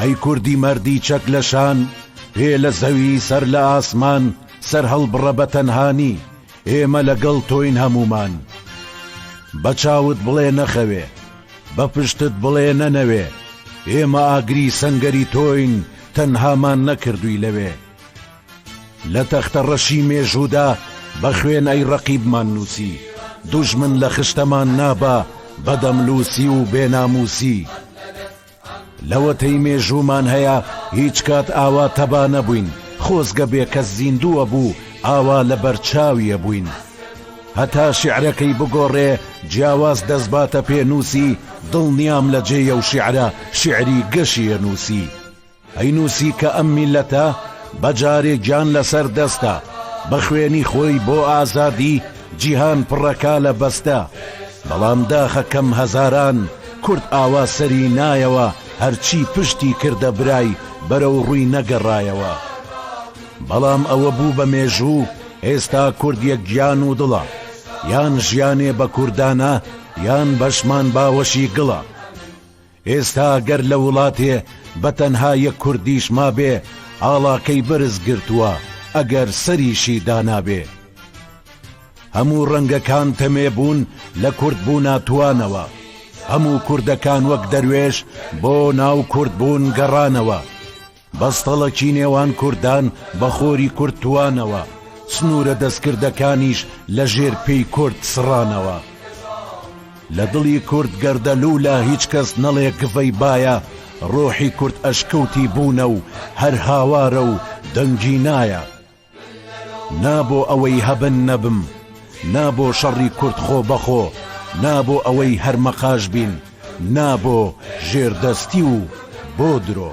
ئەی کوردی مەردی چەک لە شان پێ لە زەوی سەر لە ئاسمان سەر هەڵبڕە بە تەنهانی ئێمە لەگەڵ تۆین هەمومان بە چاوت بڵێ نەخەوێ بە پشتت بڵێ نەنەوێ ئێمە ئاگری سەنگەری تۆین تەنهامان نەکردووی لەوێ لە تەختە ڕەشی مێژوودا بە خوێنای ڕەقیبمان نووسی، دوژمن لە خشتەمان نابا بە دەملووسی و بێ نامووسی. لەوەتەی مێژوومان هەیە هیچ کات ئاوا تەبا نەبووین، خۆزگە بێ کەس زیندووە بوو ئاوا لە بەر چاوی ئەبووین. هەتا شیعرەکەی بگۆڕێ جیاواز دەسباتە پێنووسی، دڵنیام لە جێی ئەو شیعرە شیعری گەشی ئەنووسی. ئەی نووسی کە ئەم میللەتە بە جارێ گیان لەسەر دەستە بە خوێنی خۆی بۆ ئازادی جیهان پڕە کالە بەستە بەڵام داخە کەم هەزاران کورد ئاوا سەری نایەوە هەرچی پشتی کردە برای بەرەو ڕووی نەگەڕایەوە بەڵام ئەوە بوو بە مێژوو ئێستا کورد یەک گیان و دڵە یان ژیانێ بە کوردانە یان بەشمان باوەشی گڵە ئێستا گەر لە وڵاتێ بە تەنها یەک کوردیش مابێ ئاڵاکەی بەرز گرتووە ئەگەر سەریشی دانابێ. هەموو ڕەنگەکان تەمێ بوون لە کورد بوونا توانەوە. هەموو کوردەکان وەک دەروێش بۆ ناو کورد بوون گەڕانەوە. بەستەڵەکی نێوان کوردان بە خۆری کورد توانەوە، سنوورە دەستکردەکانیش لە ژێر پێی کورد سڕانەوە. لە دڵی کورد گەردەلوولە هیچ کەس نەڵێ گڤەی بایە، ڕۆحی کورد ئەشکەوتی بوونە و هەر هاوارە و دەنگی نایە. نا بۆ ئەوەی هەبن نەبم نا بۆ شەڕی کورد خۆ بەخۆ نا بۆ ئەوەی هەر مەقاش بین نا بۆ ژێردەستی و بۆ درۆ.